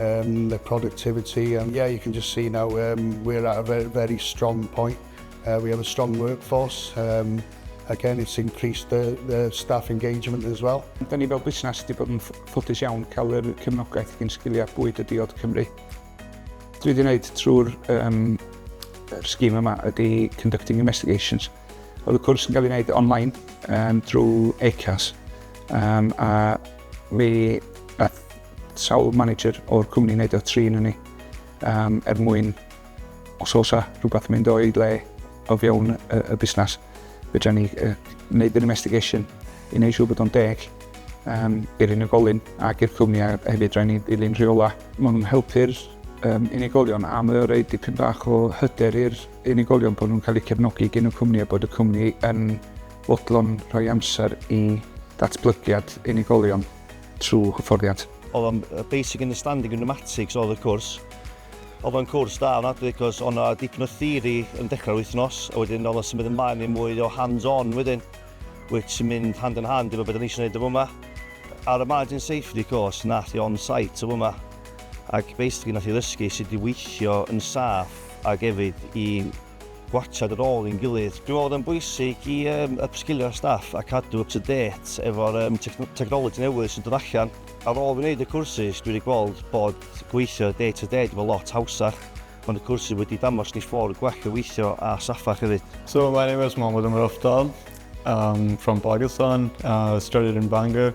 um, the productivity, and yeah, you can just see now um, we're at a very, very strong point. Uh, we have a strong workforce. Um, again, it's increased the, the staff engagement as well. Da ni fel busnes wedi bod yn ffodus iawn cael yr cefnogaeth gyn sgiliau bwyd y diod Cymru. Dwi wedi gwneud trwy'r um, sgîm yma ydy Conducting Investigations. Oedd y cwrs yn cael ei wneud online um, drwy ACAS. Um, a mi Sawl manager o'r cwmni wneud o trin yn ni um, er mwyn os oes a rhywbeth mynd o'i le o fewn y, y busnes, fydra ni uh, wneud yr investigation i wneud siŵr bod o'n deg um, i'r unigolyn ac i'r cwmni a hefyd rhaid ni ddilyn rheola. Mae nhw'n helpu'r um, unigolion a mae o'n rhaid dipyn bach o hyder i'r unigolion bod nhw'n cael eu cefnogi gen y cwmni a bod y cwmni yn fodlon rhoi amser i datblygiad unigolion. trwy hyfforddiant. Oedd o'n basic understanding of pneumatics oedd y cwrs. Oedd o'n cwrs da ofnadwy cos oedd 'na dipyn o theori yn dechrau'r wythnos a wedyn oedd o'n symud ymlaen i mwy o hands-on wedyn which sy'n mynd hand in hand efo beth o'n i eisiau gwneud o fyma. Ar y margin safety course nath i on-site o fyma ac basically nath i ddysgu sut i weithio yn saff ac hefyd i gwatsiad ar ôl i'n gilydd. Dwi'n meddwl bod e'n bwysig i yym upsgilio'r staff a cadw up to date efo'r yym tecno- technology newydd sy'n dod allan. Ar ôl fi wneud y cwrsus, dwi wedi gweld bod gweithio day to day 'di bod lot hawsach. Mae y cwrsus wedi damos ni ffordd gwell o weithio a saffach hefyd. So my name is Mohammed Umar Aftab, I'm from Pakistan, I studied in Bangor.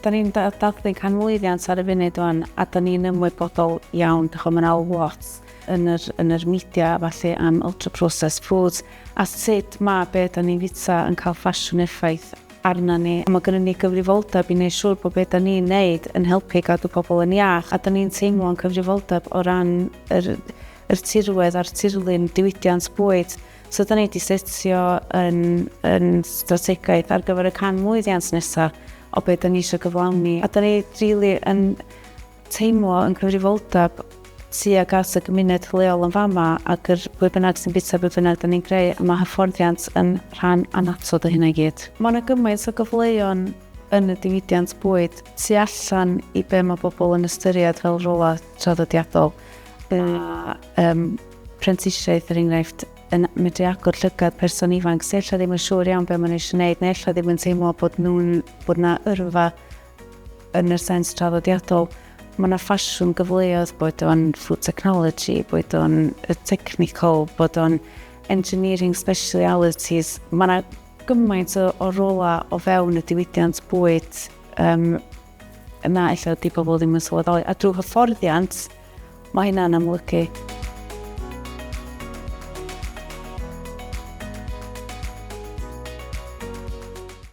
Da ni'n dathlu canmlwyddiant ar y funud wan, a da ni'n ymwybodol iawn, dych chi'n mynd al lot yn yr, yn yr media, falle am ultra-processed foods, a sut mae be da ni'n fita yn cael ffasiwn effaith arna ni. Mae gennym ni gyfrifoldeb i wneud siŵr bod be da ni'n neud yn helpu gadw pobl yn iach, a da ni'n teimlo'n cyfrifoldeb o ran yr, yr tirwedd a'r tirlun diwydiant bwyd. So da ni wedi setio yn, yn strategaeth ar gyfer y can mlwyddiant nesaf o beth da ni eisiau gyflawni. A da ni really yn teimlo yn cyfrifoldeb tuag at y gymuned leol yn fama ac yr pwy bynnag sy'n bita beth bynnag da ni'n greu a mae hyfforddiant yn rhan anatod o hynna i gyd. Mae yna gymaint o gyfleon yn y diwydiant bwyd tu allan i be mae bobl yn ystyried fel rolau traddodiadol. A um, prentisiaeth er enghraifft, yn medru agor llygad person ifanc sy ella ddim yn siŵr iawn be maen nhw eisiau wneud neu ella ddim yn teimlo bod nhw'n bod na yrfa yn y sens traddodiadol. Mae yna ffasiwn gyfleoedd bod o'n food technology, bod o'n technical, bod o'n engineering specialities. Mae yna gymaint o, o rola o fewn y diwydiant bwyd um, yna ella di pobl ddim yn sylweddoli. A drwy hyfforddiant, Mae hynna'n amlygu.